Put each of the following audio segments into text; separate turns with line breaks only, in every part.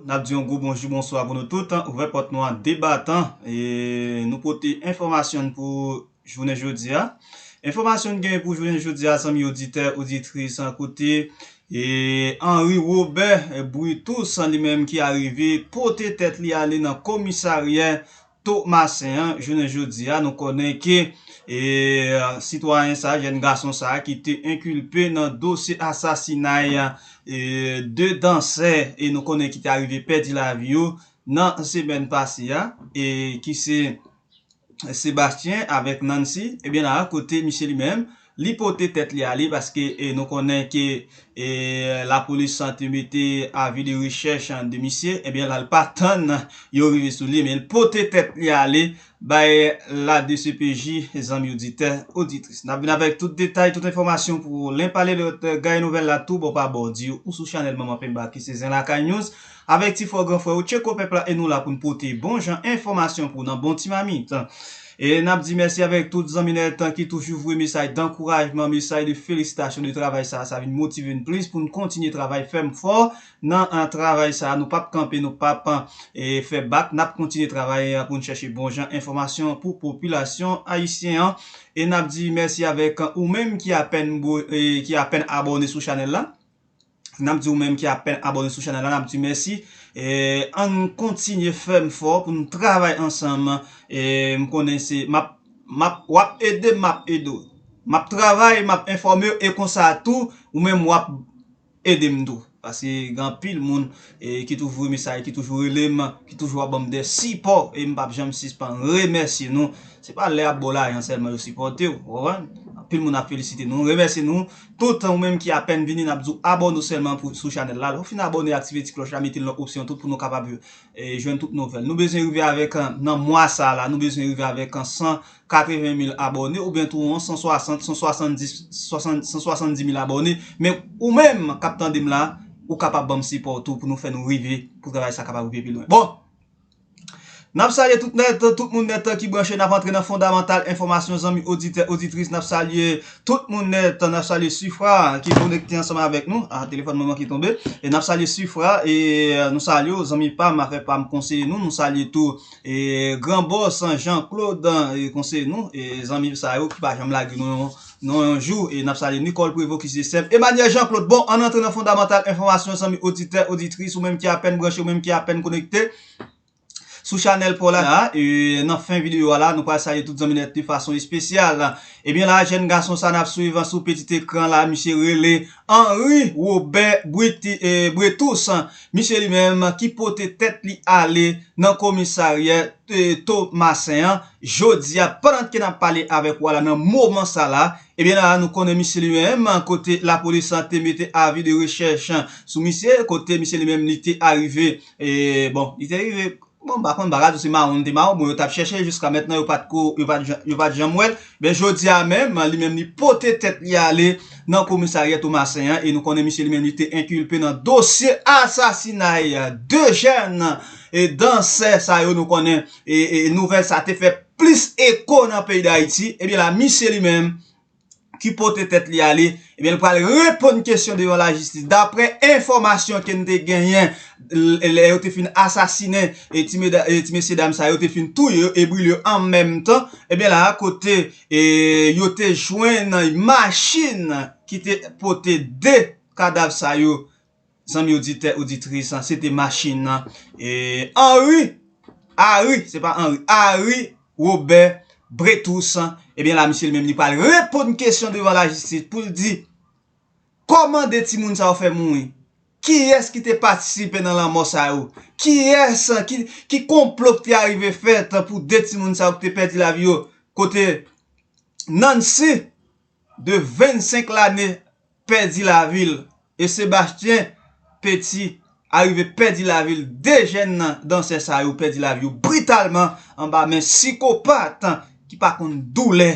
N ap di yon gwo bonjou bonswa pou nou tout, ouvè pòt nou an de batan e nou pote enfòmasyon n pou jounen jodi a Enfòmasyon n genyen pou jounen jodi a zanmi oditè oditris kote Henri Robert Brutus li menm ki arive pote tèt li ale nan komisaryè Tomasen an jounen jodi a nou konnen ke sitwayen sa jèn gason sa ki te enkilpe nan dosye asasinay 2 dansè e nou konnen ki te arive pèdi lavi yo nan semèn pase a e ki se Sébastien avèk Nancy ebyen la kote misye li menm Li pote tèt li ale paske nou konnen ke lapolis te mete avi de rechèch de misye, ebyen la l pa tann yo rive sou li men l pote tèt li ale bay la dcpj zanmi oditè, oditris. N ap vin avèk tout detay, tout enfòmasyon pou w len pale lòt gaye nouvèl la tou bò pa bò. Di w ou sou chanèl manman penba ki se Zen Lakay News. Avèk ti fò gran frè ou Tcheko Pèp la e nou la pou n pote bon jan enfòmasyon pou w nan Bon Ti Mamit. E n ap di mèsi avèk tout zanmi nèt tan ki toujou voye mesaj dankourajman, mesaj de felisitasyon de travay sa a, sa vin motive n plis pou n kontinye travay fèm fò nan travay sa a, nou p ap kanpe, nou p ap fè bak, n ap kontinye travay pou n chèche bon jan enfòmasyon pou popilasyon ayisyen an. E n ap di mèsi avèk ou menm ki apèn ki apèn abòne sou chanèl la. Nap di ou menm ki apen abone sou chanel la nap di mèsi Ann kontinye fèm fò pou nou travay ansanm M konnen se map map wap edem map ede w Map travay map enfòme w e konsa tou ou menm wap edem tou Paske gen anpil moun ki toujou voye mesaj ki toujou rele m ki toujou ap ban m de sipò e m pap janm sispann remèsye nou Se pa lè yap ba w lajan sèlman yo sipòte w ou konprann Anpil moun ap felisite nou remèsye nou Tout, ou menm ki apèn vini nap diw abòne w sèlman pou sou chanèl la lè ou fin abòne aktive ti klòch la mete l nan opsyon tout pou nou kapab jwenn tout nouvèl nou bezwen rive avèk nan mwa sa la nou bezwen rive avèk 180 mil abòne ou byen tou yon 160 170 170 mil abòne men ou menm kap tande m la ou kapab banm sipò w tou pou nou fè nou rive pou travay sa kapab rive pi lwen bon. Nap salye tout nèt, tout moun nèt ki branche nap antre nan fondamantal enfòmasyon zanmi oditè oditris nap salye tout moun nèt nap salye sifra ki konekte ansanm avèk nou a telefòn mwen manke tonbe e nap salye sifra e nou salye w zanmi pam afè pam konseye nou nou salye tou e gran bòs jan klod konseye nou e zanmi sa yo ki pa janm lage nou yon Non yon jou e nap salye Nicole Prévot ki se sèm Emmanuel Jean Claude bon ann antre nan fondamantal enfòmasyon zanmi oditè oditris ou menm ki apèn branche ou menm ki apèn konekte sou chanèl paw la e nan fen videyo a la nou pral salye tout zanmi nèt de fason espesyal ebyen la jèn gason sa nap swiv sou petit ekran la misye rele Henry Robert Bretous misye li menm ki pote tèt li ale nan komisaryè Thomassin an Jodia pandan ke nap pale avèk ou a la nan moman sa la, ebyen la nou konnen misye li menm kote lapolis la te mete avi de rechèch sou misye, kote misye li menm li te arive e bon li te rive bon m pa konn m pa ka di w se mawon li te mawon bon yo tap chèche jiska mètnan yo pat ko yo pat yo pat janm wè l, ebyen jodia a menm li menm li pote tèt li ale nan komisaryè Tomasen an e nou konnen misye li menm li te enkilpe nan dosye asasinay 2 jèn e dansè sa yo nou konnen. nouvèl sa te fè plis eko nan peyi Dayiti, ebyen la misye li menm ki pote tèt li ale, ebyen li pral reponn kesyon devan lajistis. Daprè enfòmasyon ke n te genyen, lè yo te fin asasinen ti mesye dam sa yo te fin touye yo e brile yo an menm tan, ebyen la kote yo te jwenn machin ki te pote 2 kadav sa yo zanmi oditè oditris an se te machin nan Henri Ari se pa Henri Ari Robert Bretous ebyen la misye li menm li pral reponn kesyon devan lajistis pou l di kòman 2 timoun sa yo fè mouri kiyès ki te patisipe nan lanmò sa yo kiyès ki konplo ki te arive fèt pou 2 timoun sa yo ki te pèdi lavi yo kote Nancy. de 25 lane pèdi lavi l e Sebastien Petit arive pèdi lavi l 2 jèn dansè sa yo pèdi lavi yo britalman anba men sikopat ki pa konn doulè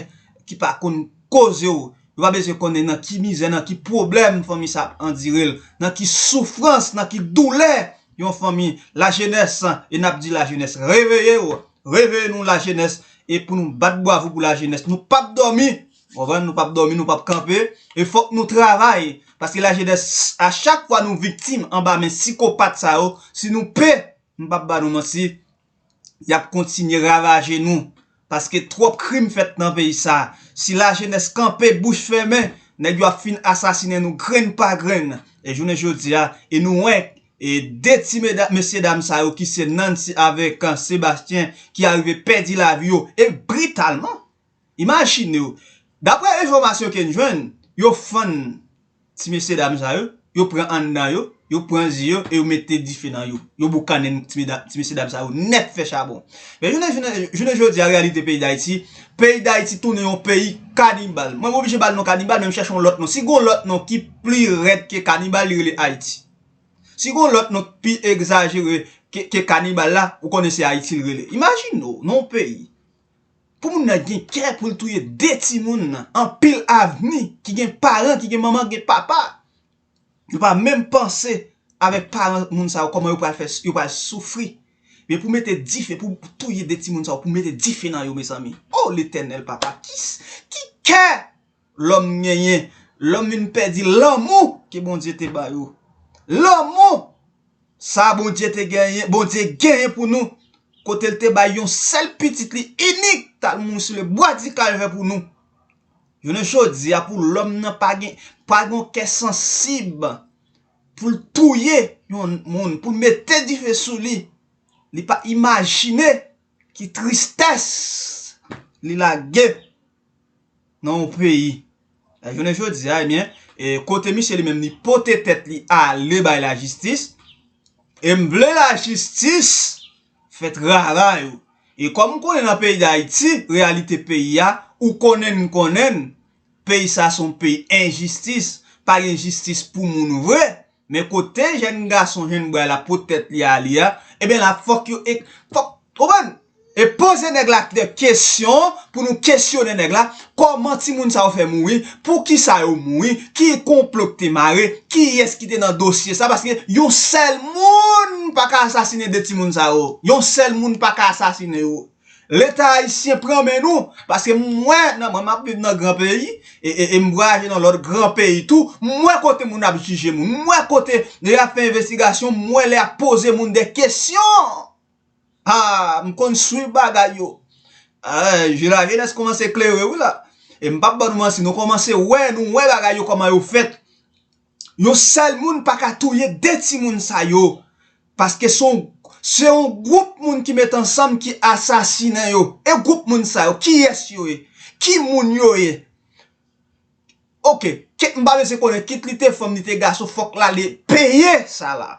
ki pa konn koze w yo pa bezwen konnen nan ki mizè nan ki pwoblèm fanmi sa ap andire l nan ki soufrans nan ki doulè yon fanmi lajenès e n ap di lajenès reveye w. Reveye nou la jenès e pou nou bat bwavo pou la jenès nou pap dòmi ou konprann nou pap dòmi nou pap kanpe e fòk nou travay paske la jenès a chak fwa nou viktim anba men sikopat sa yo si nou p m pap ba nou manti yap kontinye ravaje nou paske twòp krim fèt nan peyi sa si la jenès kanpe bouch fèmen nèg yo ap fin asasinen nou grenn pa grenn e jounen jodi a e nou wè E 2 ti mesye dam sa yo ki se Nancy avèk Sébastien ki arive pèdi lavi yo e britalman. Imajinew, daprè enfòmasyon ke n jwenn, yo fann ti mesye dam sa yo, yo pran anndan yo, yo pran zye yo e yo mete dife nan yo. Yo boukannen ti mesye dam sa yo nèt fè chabon. Men jounen jodi a reyalite peyi Dayiti, peyi Dayiti tounen yon peyi kanibal. Mwen oblije ba l non kanibal men m chèche yon lòt non. Si gon lòt non ki pli rèd ke kanibal li rele Ayiti. Si gon lòt non k pi egzajere ke kanibal la, ou konnen se Ayiti l rele. Imajine w nan yon peyi, pou moun nan gen kè pou l touye 2 timoun nan, anpil avni, ki gen paran, ki gen manman, ki gen papa. Yo pa menm panse avèk paran moun sa yo, kòman yo pral fè, yo pral soufri. Men pou mete dife, pou touye 2 timoun sa yo, pou mete dife nan yo mezanmi. O Letènèl papa, ki kè! Lòm genyen. Lòm vin pèdi lanmou ke Bondye te ba yo. Lanmou sa Bondye te genyen, Bondye genyen pou nou, kote l te bay yon sèl pitit li inik t al mouri sou le bwa di kalvè pou nou. Jounen jodi a pou lòm nan pa gen, pa gen yon kè sansib pou l touye yon moun, pou l mete dife sou li, li pa imajine ki tristès li lage. nan yon peyi jounen jodi a ebyen kote misye li menm li pote tèt li ale bay la jistis e m vle la jistis fè travay ou e kòm m konnen nan peyi dayiti reyalite peyi a ou konnen m konnen peyi sa son peyi enjistis pa gen jistis pou moun vre Men kote jèn gason jèn bway la pot tèt li ale a, eben la fòk yo ek fòk konprann e poze nèg la de kesyon pou nou kesyone nèg la, kòman timoun sa yo fè mouri, poukisa yo mouri, ki konplo ki te mare, kiyès ki te nan dosye sa paske yon sèl moun paka asasine 2 timoun sa yo, yon sèl moun paka asasine yo. Leta ayisyen pran men nou, paske m wè nan mwen m ap viv nan gran peyi, e m vwayaje nan lòt gran peyi tou, m wè kote moun ap jije moun, m wè kote lè y ap fè envestigasyon, m wè lè y ap poze moun dè kesyon! Ha! M konn swiv bagay yo. Je la jenès kòmanse klere wi la. E m p ap ban nou manti, nou kòmanse wè, nou wè bagay yo kòman yo fèt. Yon sèl moun pa ka touye 2 timoun sa yo paske se yon gwoup moun ki met ansanm ki asasinen yo. E gwoup moun sa yo kiyès yo ye? Ki moun yo ye? Ok, Kate m pa bezwen konnen kit li te fanm li te gason fòk Laali peye sa la.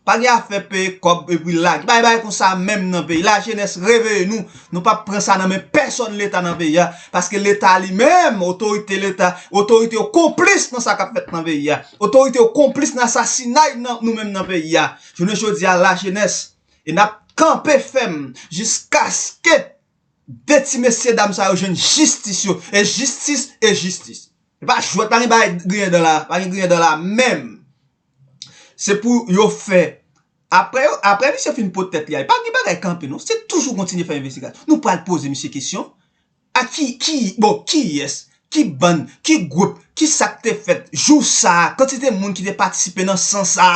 Pa gen afè peye kòb epi lage. Bay bay konsa menm nan peyi. La jenès reveye nou. Nou pap pran sa nan men pèsòn leta nan peyi a. Paske leta li menm, otorite leta, otorite yo konplis nan sa kap fèt nan peyi a. Otorite yo konplis nan asasinay nou menm nan peyi a. Jounen jodi a la jenès e nap kanpe fèm jiskaske 2 ti mesye dam sa yo jwenn jistis yo. E jistis e jistis. E pa jwèt pa gen bagay griyen dan la. Pa gen griyen dan la menm. Se pou yo fè Aprè yo aprè misye fin pot tèt li ale pa gen bagay kanpe non se toujou kontinye fè envestigasyon nou pral poze misye kesyon a ki ki bon kiyès ki bann ki gwoup ki sak te fèt jou sa kantite moun ki te patisipe nan san sa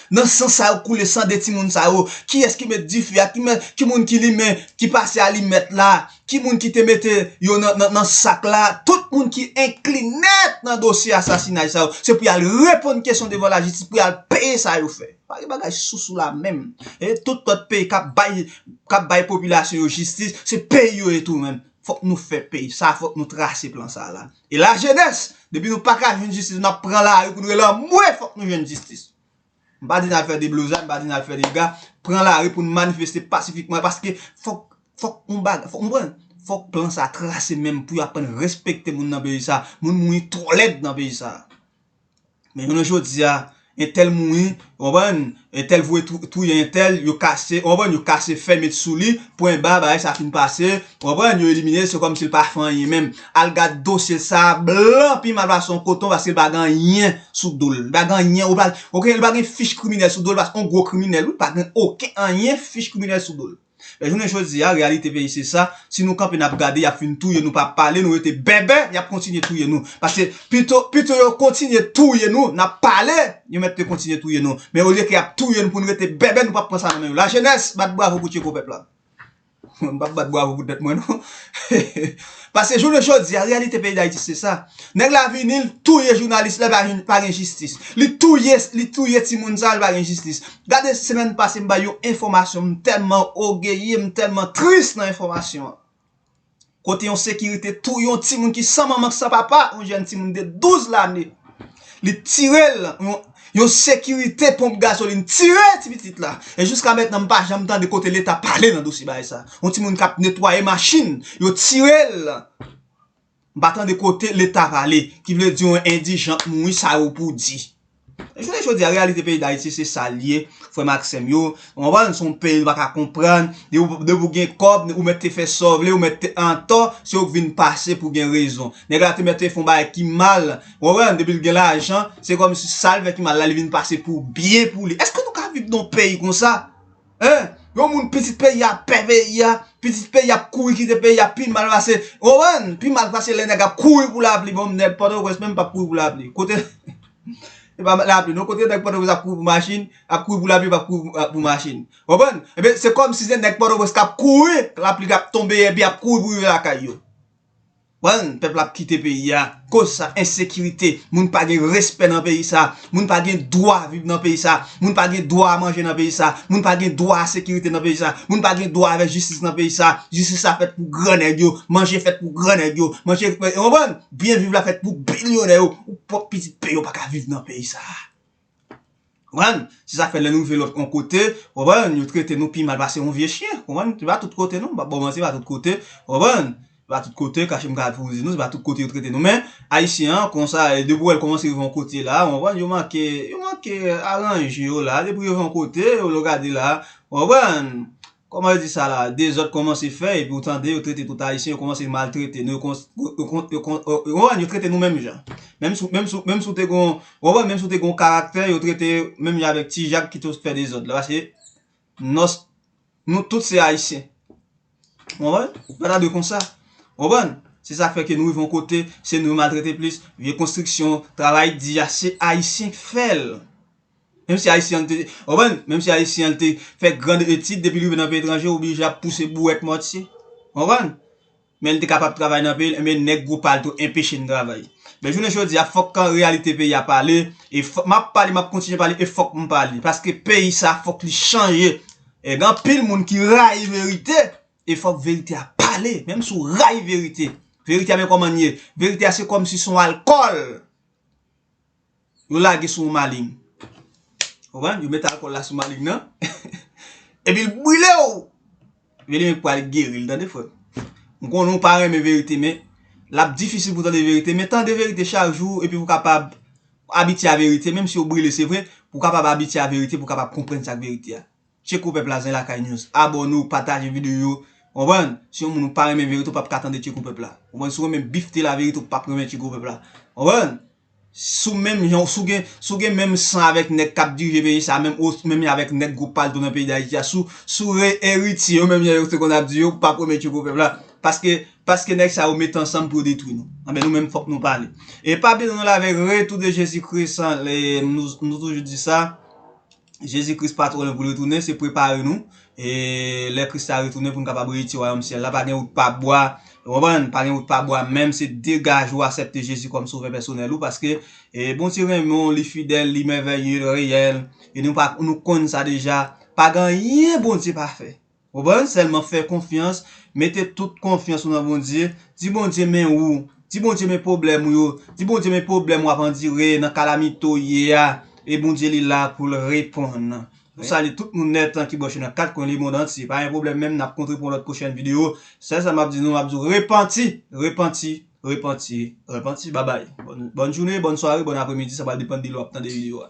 nan san sa yo koule san de timoun sa yo kiyès ki met dife a ki mè ki moun ki limen ki pase alimèt la ki moun ki te mete yo nan sak la, tout moun ki enkli nèt nan dosye asasinay sa yo, se pou y al reponn kesyon devan lajistis, pou y al peye sa yo fè. Pa gen bagay sousou la menm. E tout lòt peyi k ap bay, k ap bay popilasyon yo jistis, se peyi yo ye tou menm. Fòk nou fè peyi sa, fòk nou trase plan sa la. E lajenès, depi nou pa ka jwenn jistis, n ap pran lari pou nou rele anmwe fòk nou jwenn jistis. M pa di n al fè deblozay, m pa di n al fè dega, pran lari pou n manifeste pasifikman paske fòk fòk yon bagay fòk ou konprann fòk plan sa trase menm pou yo aprann respekte moun nan peyi sa moun mouri twò lèd nan peyi sa men jounen jodi a entèl mouri ou konprann entèl voye touye entèl yo kase ou konprann yo kase fè met sou li pwen ba bagay sa fin pase ou konprann yo elimine l se kòmsi l pa fè anyen menm Al gad dosye sa blan pi mal pase yon koton paske li pa gen anyen sou dol li pa gen anyen ou pral ok li pa gen fich kriminèl sou dol paske yon gwo kriminèl wi pa gen oken anyen fich kriminèl sou dol men jounen jodi a reyalite peyi se sa si nou kanpe nap gade yap fin touye nou pa pale nou rete bèbè yap kontinye touye nou paske pito pito yo kontinye touye nou nap pale yo mèt te kontinye touye nou men olye ke yap touye nou poun rete bèbè nou pap pran sa nan men yo lajenès bat bravo pou tcheko pèp la. Mwen m pap bat bwavo pou tèt mwen non. Paske jounen jodi a reyalite peyi Dayiti se sa. Nèg la vini l touye jounalis la epi pa gen jistis. Li touye li touye timoun sa li pa gen jistis. Gade semèn pase m bay yon enfòmasyon m tèlman ogeye m tèlman tris nan enfòmasyon an. Kote yon sekirite touye yon timoun ki san manman k san papa, yon jèn timoun de 12 lane. Li tire l, yon sekirite ponp gazolin tire ti pitit la. E jiska mètnan m pa janm tande kote leta pale nan dosye bagay sa. Yon timoun kap netwaye machin, yo tire l. M pa tande kote leta pale. Ki vle di yon endijan k mouri sa yo pou di. Jounen jodi a reyalite peyi dayiti se sa l ye frè m ak sè m yo ou konprann se yon peyi nou pa ka konprann depi ou gen kòb ou mèt te fè sa w vle ou mèt antò se ou k vin pase pou gen rezon nèg la te mèt te fè yon bagay ki mal ou konprann depi l gen lajan se kòmsi sa l fè ki mal la li vin pase pou byen pou li èske nou ka viv nan yon peyi konsa. Hein yon moun pitit peyi a pè peyi a pitit peyi a ap kouri kite peyi a pi mal pase ou konprann pi mal pase lè nèg ap kouri pou lapli bon nèg pòtoprens menm pap kouri pou lapli kote se pa lapli non kote nèg pòtoprens ap kouri pou machin ap kouri pou lapli pap kouri pou machin ou konprann ebyen se kòmsi se nèg pòtoprens kap kouri lapli kap tonbe epi yap kouri pou rive lakay yo. Well pèp la ap kite peyi a koz sa ensekirite moun pa gen respè nan peyi sa moun pa gen dwa viv nan peyi sa moun pa gen dwa manje nan peyi sa moun pa gen dwa a sekirite nan peyi sa moun pa gen dwa avè jistis nan peyi sa jistis la fèt pou gran nèg yo manje fèt pou gran nèg yo manje ou konprann byen viv la fèt pou bilyonè yo ou pwòp pitit peyi yo pa ka viv nan peyi sa. Konprann? Se sa k fè lè nou rive lòt on kote, konprann, yo trete nou pi mal pase on vye chyen, konprann? Se pa tout kote non, m pap ba w manti, se pa tout kote, konprann? Se pa tout kote, kache m gad pou m di nou, se pa tout kote yo trete nou men, Ayisyen an konsa, depi w wè l kòmanse rive on kote la, konprann, yo manke, yo manke aranje yo la, depi yo rive on kote, lè w gade la, konprann, Kòman yo di sa la a? Dezòd kòmanse fè epi ou tande yo trete tout Ayisyen, yo kòmanse maltrete nou, yo konprann, yo trete nou menm jan. Menm si w te gen yon, ou konprann, menm si w te gen yon karaktè, yo trete yo menm jan avèk ti Jak ki te fè dezòd la. Paske nòs, nou tout se Ayisyen. Ou konprann? Li pa ta dwe konsa. Ou konprann? Se sa k fè ke nou rive yon kote, se nou yo maltrete plis, vye konstriksyon, travay di a, se Ayisyen k fè l. Menm si Ayisyen an te, ou konprann, menm si Ayisyen an te fè grand etid, depi l rive nan peyi etranje l oblije ap pouse bouwèt mòtye. Ou konprann? Men l te kapab travay nan peyi l, enben nèg gwo pa l tou enpeche n travay. Men jounen jodi a fòk kan reyalite peyi a pale, e fò, m ap pale, m ap kontinye pale e fòk m pale. Paske peyi sa a fòk li chanje. E gen anpil moun ki rayi verite e fòk verite a pale. Menm si w rayi verite, verite a men kòman l ye, verite a se kòmsi se yon alkòl. yo lage sou yon maling ou konprann yo met alkòl la sou maling nan epil brilew ebyen li menm ki pral geril tande frèm m konnen ou pa renmen verite men lap difisil pou tande verite men tande verite chak jou epi pou kapab abitye a verite menm si yo brile se vre pou kapab abitye a verite pou kapab konprann sak verite a. Tcheko pèp la zen lakay news abòne ou pataje video yo konprann si yon moun ou pa renmen verite ou pap ka tande tcheko pèp la konprann si ou renmen bif te la verite ou pap renmen tcheko pèp la konprann si ou menm jan si ou gen si ou gen menm san avèk nèg kap dirije peyi sa menm ou menm jan avèk nèg gwo palto nan peyi dayiti a si ou si ou re eritye yo menm jan yo te konn ap di yo ou pap renmen tcheko pèp la paske paske nèg sa yo mete ansanm pou yo detwi nou anben nou menm fòk nou pale e pa bliye nou la vèy retou de jezi kris an nou toujou di sa Jezi Kris pa twò lwen pou l retounen, se prepare nou lè Kris la retounen pou n kapab eriti wayòm syèl la. Pa gen wout pa bwa, ou konprann, pa gen wout pa bwa menm se degaje ou asèpte Jezi kòm sovè pèsonèl ou paske Bondye renmen w, li fidèl, li mèvèye, li reyèl e nou konn sa deja. Pa gen anyen Bondye pa fè. Ou konprann sèlman fè konfyans mete tout konfyans ou nan Bondye di Bondye men ou di Bondye men pwoblèm ou yo di Bondye men pwoblèm wap andire nan kalamite ou ye a e Bondye li la poul reponn nou salye tout moun nèt ki branche nan 4 kwen lemond antye pa gen pwoblèm menm nap kontre pou yon lòt pwochèn video sèl sa map di nou map di w repanti repanti repanti repanti babay bòn jounen bòn sware bòn apremidi sa pral depann de lè wap tande video a.